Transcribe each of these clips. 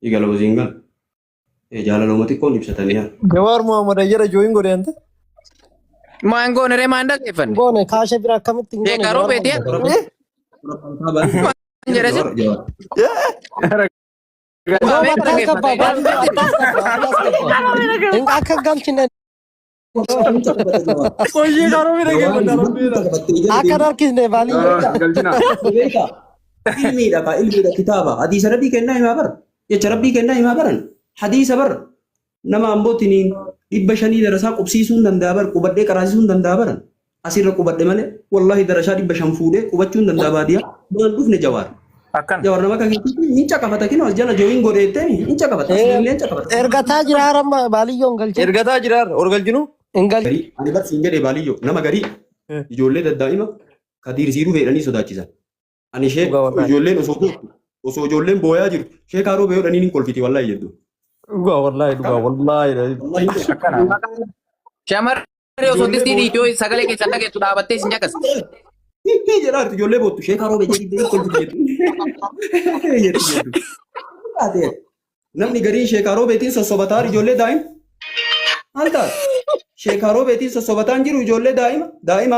Igala wasiin gal. Eh, Jaalalooma xiqqoon ibsatanii haa. Jawaar Muhammad Ayyara jooyin godhe ante. Maan goone ree maan dhaggeeffanne. Goone kaasha bira akkamitti hin goone Sheekaa Jawaar roobeeti Muhammad. yaa. Maan jedhe si. Jawaar Muhammad. Rooba akkas gabba baadiyyaa akkas gabba akkas gabba. Hin akka galchine Qoyyii garuu bira kee kun darabbiidha. Akka darkisne baalii. Galchina. Beeka. Ilmiidha kaa ilmiidha kitaaba. Hadiisa rabbii kennaa himaa bara. Jecha rabbii kennaa himaa baran. Hadiisa bara. Nama ambootiniin dhibba shanii darasaa qubsiisuun danda'a bara. Qubadhee qaraasisuun danda'a bara. asirra qubadhe malee wallahi darashaa dhibba shan fuudhee qubachuun danda'a baadiyaa maal dhufne jawaar Akkan. jawaar nama akka keetii hin caqafata kinoo as jala jooyin godheettee hin caqafata as illee hin caqafata Ergataa jira haramma baaliyyoo hin galchin. Ergataa jiraar ol galchinu. Hin galchin. garii ani bar siin jedhee baaliyyoo nama garii ijoollee daddaa'ima kadiir siiruu feedhanii sodaachisan Ani sheek Dhugaa wallahi. ijoolleen osoo bootu osoo ijoolleen booyaa jirtu sheekaa roobee yoo dhaniin hin kolfiti wallahi jedhu. Dhugaa wallahi dhugaa wallahi. Wallahi jedhu. Akkana. Maqaan shamarree osoo Ijoollee distii booda- dhiitoo sagalee keessan dhageessu dhaabattee isin caqas. Hiikkii jedhaa jirtu ijoollee boottu sheekaa roobee jedhi jedhi kolfiti jettu. Jettu jettu. Taate namni gariin sheekaa roobeetiin sossobataa ijoollee daa'ima. Maal taate? Sheekaa roobeetiin sossobataan jiru ijoollee daa'ima daa'ima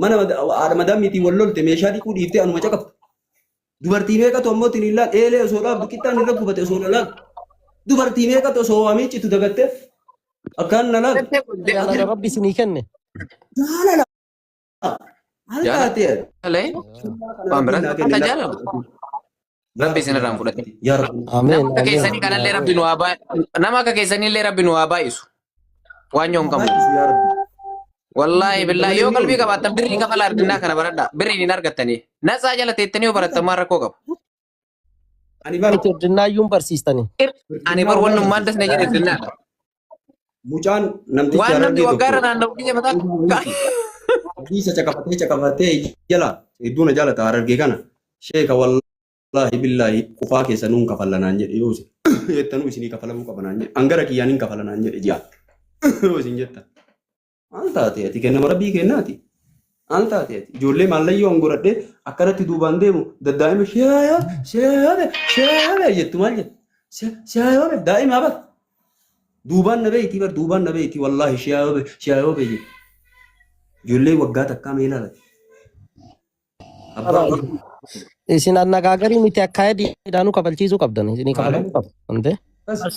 mana haadha madaamiitiin wal lolte meeshaa dhiquu dhiiftee anuma caqafta. Dubartii meeqatu ammoo tiniillaan eelee osoo dhaabdu qixxaan irra gubate osoo na laalu. Dubartii meeqatu osoo waa miiccitu dagattee akkaan na laalu. Jettee kun Jaalala deebiin Rabbi isinii kenne. Jaalala. Maal Jaalala. taatee? Jaalala. Waan biraa Kennaa kennaa kennaa. jaalala. Rabbi isin irraa hin fudhatin. Yaa Rabbi. Nama Ameen. akka Ameen. keessanii kanallee Rabbi nu haa baay'isu. Nama akka keessaniillee Rabbi nu haa baay'isu. Waan yoo hin qabnu. Baay'isu yaa Rabbi. Wallaahi billaahi yoo qalbii qabaattan birrii kafala ardinnaa kana baradhaa. Birriin hin argattanii. Natsaa jala teettanii yoo barattan maal rakkoo qaba? Ani bara. Itti erdinnaayyuun barsiistanii. Ani bar wannummaan dasna jedhe irdinnaa. Mucaan namtichi Waan namni harargee waggaa irra tokko naanna'u biyya mataa hadiisa caqafatee caqafatee jala hedduu na jaalata harargee kana sheeka wallaahi billaahi qufaa keessa nuun kafalla naan jedhe yoo isin jettanuu isinii kafalamuu qaba naan jedhe angara kiyyaan hin kafala naan jedhe ji'a yoo isin jettan Maal taate ati kennama rabbii kennaati. Maal taate ati ijoollee maallayyoo angoradhee akkanatti duubaan deemu daddaa'ima shaayaa shaayaa shaayaa jettu maal jettu shaayaa daa'imaa bar duubaan na beeyti bar duubaan na beeyti wallaahi shaayaa shaayaa beeyye ijoollee waggaa takkaa mee ilaala abbaa Araayi. Isin annagaagarii miti akkaayadii dhaanuu kabalchiisuu qabdan. Isinii kabalamuu qabu. Hundee. akkas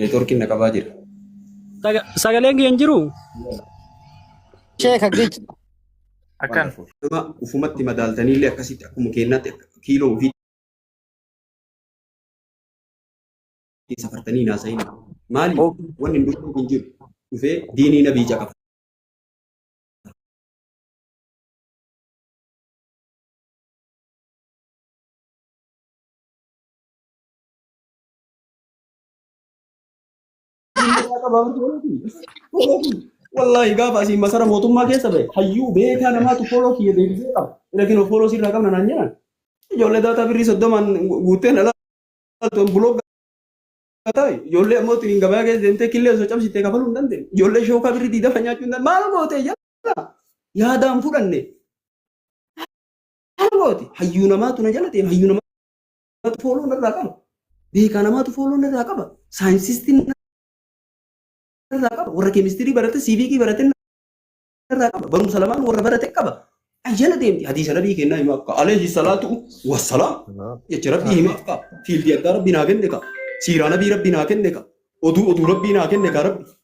Neetworkiin na qabaa jira. Saga- Sagaleen kee hin jiru? Sheeka gic. Akkan. Nama ufumatti madaaltanii illee akkasitti akkuma keenyaatti akka kiiloo ofii safartanii naasa'in. Maali? Wanni hin dhufne hin jiru. Dhufee diinii nabii caqafa. Wallaahi gaafa asiin masara mootummaa keessa ba'e hayyuu beekaa namaatu fooloo kiyya deebisee qaba. Lakin fooloo sirraa qabna naan jedhan. Ijoollee daataa birrii soddomaan guutteen alaaltuun bulooga taa'e. Ijoollee ammoo ittiin gabaa keessa deemtee killee osoo cabsitee kafaluu hin dandeenye. Ijoollee shookaa birrii diidama nyaachuu hin dandeenye. Maal gootee jala yaadaan fudhanne. Maal gooti hayyuu namaatu na jala deema hayyuu namaa. Namatu fooloo narraa qaba. Beekaa namatu fooloo narraa qaba. Saayinsistiin narraa qaba. Warra keemistirii barate, siiviikii barate narraa qaba. Barumsa lamaan warra barate qaba. Ayyana deemti. Hadiisa nabii kennaa himaa akka alayhi salaatu wassalaam. Jecha rabbii himaa akka fiildii addaa rabbii naa kenne ka. Siiraa nabii rabbii naa kenne ka. Oduu oduu rabbii naa kenne ka rabbi.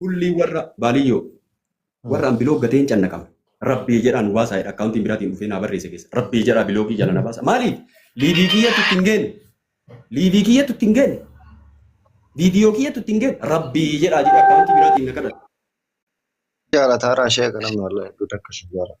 Kullii warra baaliyyoo warra an biloog gateen cannaqame rabbii jedhaa nu baasaa jedha akkaawuntiin biraatiin dhufee naa barreesse keessa rabbii jedhaa biloogii jala na baasa maaliif liivii kiyyatu itti hin geenne liivii kiyyatu itti hin geenne viidiyoo kiyyatu itti hin geenne rabbii jedhaa jedha akkaawuntii biraatiin na kadhata. Jaalataara ishee kana malee hedduu takka ishee jaalata.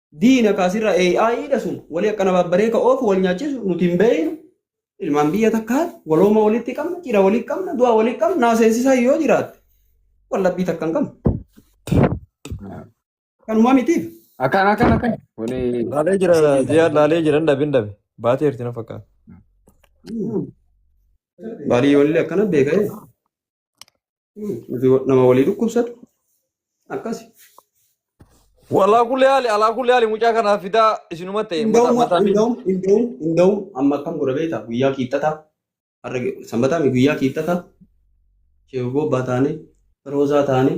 diina kaasirra AI dha sun walii akkana babbaree ka oofu wal nyaachisu nuti hin beeynu ilmaan biyya takkaati walooma walitti qabna cidha walitti qabna du'a walitti qabna naa seensisaa yoo jiraatte wallabbii takka hin qabna kanuma mitiif Akkan akkan akkan. Wani Laalee jira ji'a laalee jira hin dhabe hin dhabe. Baatee jirti na fakkaata. baalii walillee akkana beeka'ee Nuti nama walii dhukkubsatu akkasi. Walaa kulli haali alaa kulli haali mucaa kanaaf fidaa isinuma ta'e mata Inda'uma mataan inda'um inda'um inda'um amma akkam godha beektaa guyyaa kiixxataa har'a ge- sanbataa mi guyyaa kiixxataa sheeboo abbaa taanee roozaa taanee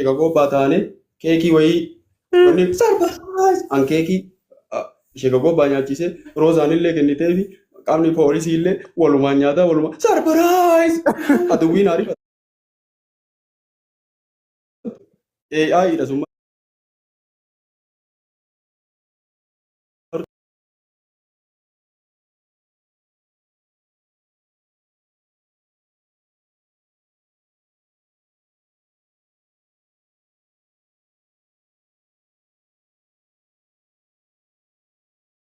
Egaa gobbaa taane keekii wayii wanni sarpiraayiz an keekii ishee gobbaa nyaachise roozaan illee kennitee fi qaamni poolisii illee walumaan nyaataa walumaan sarpiraayiz aduwwiin ariifata. AI dha summa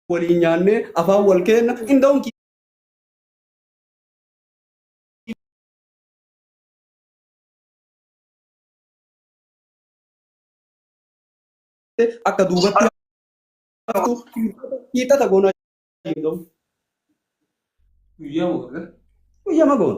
waliin nyaannee afaan wal keenna inda'uun akka duubatti haftu hiixata goonaa jedhamu. Guyyaa mo'arra. Guyyaa magoon.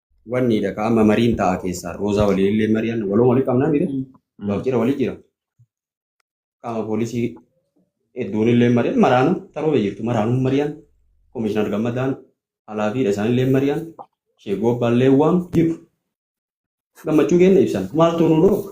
Wanni dha ka amma mariin ta'a keessaa roozaa waliin illee mari'an waloo walii qabnaa mire gaaf jira walii jira qaama poolisii hedduun illee mari'an maraanuu taroo jirtu maraanuu mari'an komishinar gammadaan alaafiidha isaan illee mari'an sheegoo abbaan illee waam jiru gammachuu keenya ibsan maaltu nu dhooga